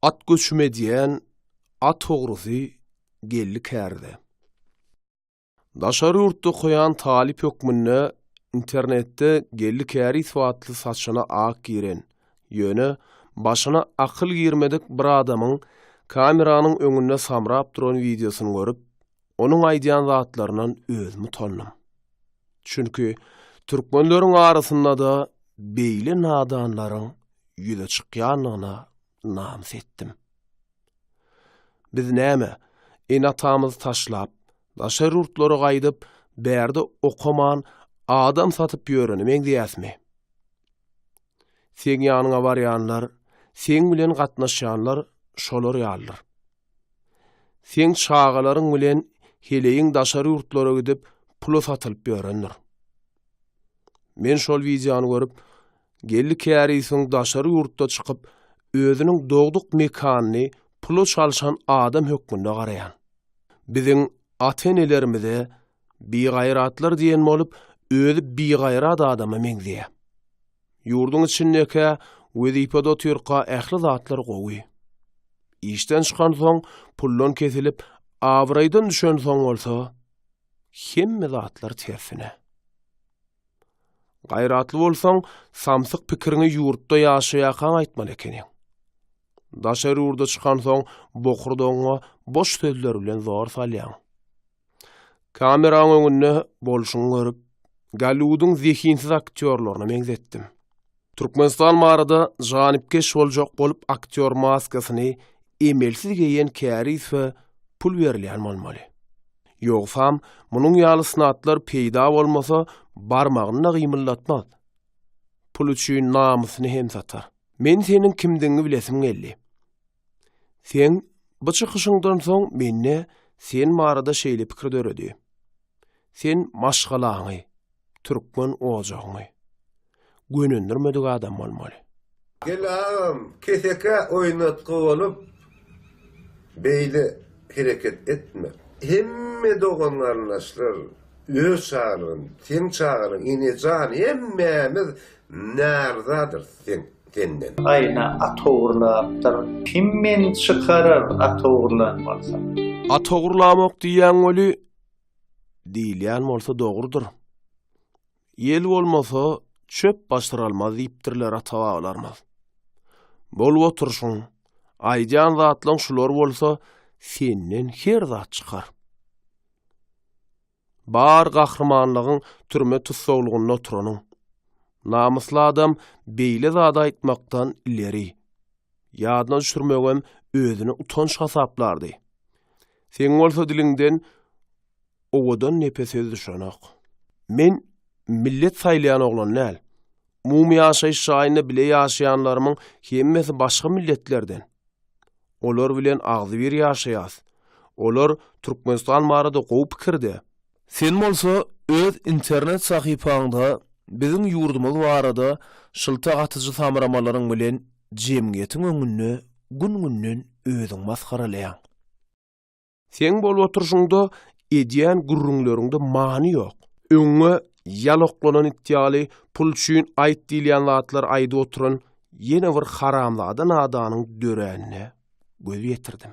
At göçüm edýän at ogrusy geldi kärde. Daşary ýurtda okaýan talyp hökmünde internetde geldi käris watly saçyna ak giren, ýöne başyna akyl girmedik bir adamyň kameranyň öňünde samrap duran wideosyny görüp, Onuň aýdýan zatlaryndan özüm utandym. Çünki türkmenleriň arasynda-da beýle nadanlaryň ýüze çykýandygyna namys etdim. Biz näme, ene-atamyzy taşlap, daşary ýurtlara gaýdyp, bärde okaman, adam satyp ýörene meňzeýäsmi? Seň ýanyňa barýanlar, seň bilen gatnaşýanlar şolar ýalydyr. Seň çagalaryň bilen heleýiň daşary ýurtlara gidip, pula satylyp ýörendir. Men şol wideony görüp, Geldi kärisiň daşary ýurtda çykyp, özüniň dogduk mekanyny pula çalşan adam hökmünde garaýan. Biziň ata-enelerimize bigaýratlar diýen bolup, özi bigaýrat adama meňzeýä. Ýurduň içindekä, wezipede otyrka ähli zatlar gowy. Işden çykansoň, puldan kesilip, abraýdan düşensoň bolsa, hemme zatlar tersine. Gaýratly bolsaň, samsyk pikiriňi ýurtda ýaşaýarkaň aýtmaly ekeniň. Daşary ýurda çykansoň, bokurdagyňa boş sözler bilen zor salýaň. Kameraň öňünde bolşuňy görüp, Golliwudyň zehinsiz aktýorlaryna meňzetdim. Türkmenistan barada janypkeş boljak bolup aktýor maskasyny emelsiz geýen kärizfe pul berilýän bolmaly. Ýogsam, munuň ýaly snatlar peýda bolmasa, barmagyny-da gymyldatmaz. Pul üçin namysyny hem satar. Men seniň kimdigiňi bilesim geldi. Seň bu çykyşyňdan soň mende sen barada şeýle pikir döredi. Sen maşgalaňy, türkmen ojagyňy gönendirmedik adam bolmaly. Gel agam kesekä oýnatgy bolup beýle hereket etme. Hemme dogan garyndaşlar öz çagalygyny seň çagalygyň enejan hemmämiz Närzadyr sen senden. Aýna at ogurlapdyr. Kim meni çykarar at ogurlan bolsa. At ogurlamok diýýäň weli, diýilýän bolsa dogrudyr. Ýel bolmasa, çöp basyralmaz diýipdirler ata-babalarymyz. Bolup oturyşyň, aýdýan zatlaň şular bolsa, senden her zat çykar. Bar gahrymanlygyň türme tussaglygynda oturanyň. Namysly adam beýle zady aýtmakdan ileri. Ýadyna düşürmegem özüne utanç hasaplardy. Seň bolsa diliňden owadan nepe söz düşenok. Men millet saýlaýan oglan däl. Umumy ýaşaýyş jaýynda bile ýaşaýanlarymyň hemmesi başga milletlerden. Olar bilen agzybir ýaşaýas. Olar Türkmenistan barada gowy pikirde. Sen bolsa öz internet sahypaňda biziň ýurdumyz barada şylta atyjy samramalaryň bilen jemgyýetiň öňünde gün-günden özüň masgaralaýaň. Seň bolup oturyşyňda edýän gürrüňleriňde many ýok. Öňňe ýaloklanan it ýaly pul üçin aýt diýilýän zatlary aýdyp oturan ýene bir haramzada nadanyň döränine göz ýetirdim.